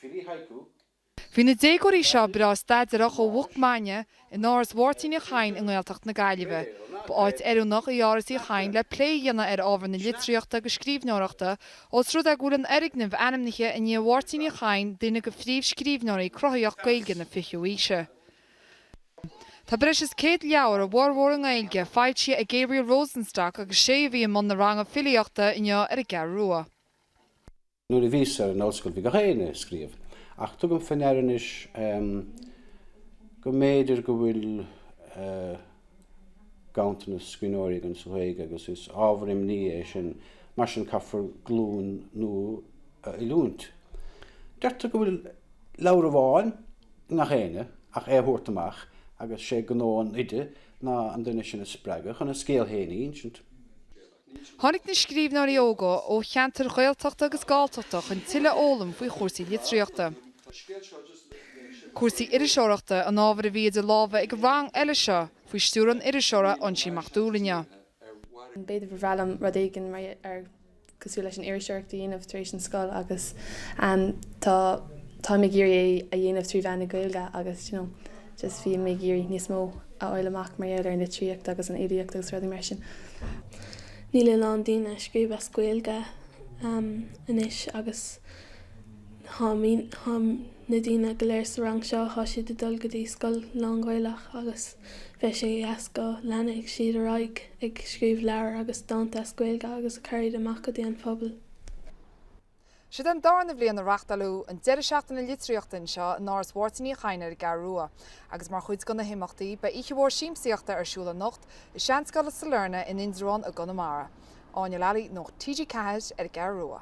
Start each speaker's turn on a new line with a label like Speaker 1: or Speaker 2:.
Speaker 1: Filí haiku. Bhí na déagóirí seo breá staidéarach ó mhoch maidine in Áras Mháirtín Uí Chadhain i nGaeltacht na Gaillimhe. Ba áit oiriúnach í Áras Uí Chadhain le plé a dhéanamh ar ábhar na litríochta agus scríbhneoireachta os rud é go bhfuil an fhoirgneamh ainmnithe i ndiaidh Mháirtín Uí Chadhain duine de phríomhscríbhneoirí cruthaitheacha Gaeilge na fichiú aoise. Tá breis is céad leabhar, a bhformhór i nGaeilge, foilsithe ag Gabriel Rosenstock agus is é a bhí i mbun na ranga filíochta inniu ar an gCeathrú Rua. Nuair a bhíos ar an ollscoil bhí gach éinne ag scríobh, ach tugaim fé ndeara anois go mb'fhéidir go bhfuil ganntanas scríbhneoirí againn sa Ghaeilge agus is ábhar imní é sin. Mar sin caithfear glúin nua a oiliúint. Deirtear go bhfuil leabhar amháin i ngach éinne ach é a thabhairt amach agus is é gnó an oide ná an duine sin a spreagadh chun a scéal féin a insint. Tháinig na scríbhneoirí óga ó cheantair Ghaeltachta agus Galltachta chun tuilleadh a fhoghlaim faoi chúrsaí litríochta. Cúrsaí iriseoireachta an ábhair a bhí idir lámha ag an rang eile seo, faoi stiúir an iriseora Uinsín Mac Dubhghaill inniu. B'fhéidir ba bhreá liom rud éigin mar ar cosúil leis an iriseoireacht a dhéanamh tar éis an scoil agus tá táim ag iarraidh é a dhéanamh trí mheán na Gaeilge agus you know, just bhí mé ag iarraidh níos mó a fháil amach mar gheall ar an litríocht agus an fhilíocht agus rudaí mar sin. níl a lán daoine ag scríobh as Gaeilge anois agus na daoine go léir sa rang seo, tá siad ag dul go dtí scoil lán-Ghaelach agus bheadh sé go deas go leanfadh siad ar aghaidh ag scríobh leabhair agus dánta as Gaeilge agus ag cur iad amach go dtí an phobal. Seo é an darna bhliain a reachtáileadh an deireadh seachtaine litríochta anseo in Áras Mháirtín Uí Chadhain ar an gCeathrú Rua, agus mar chuid de na himeachtaí, beidh oíche mhór siamsaíochta ar siúl anocht i Seanscoil Sailearna in Indreabhán i gConamara. Áine Lally, Nuacht TG4, ar an gCeathrú Rua.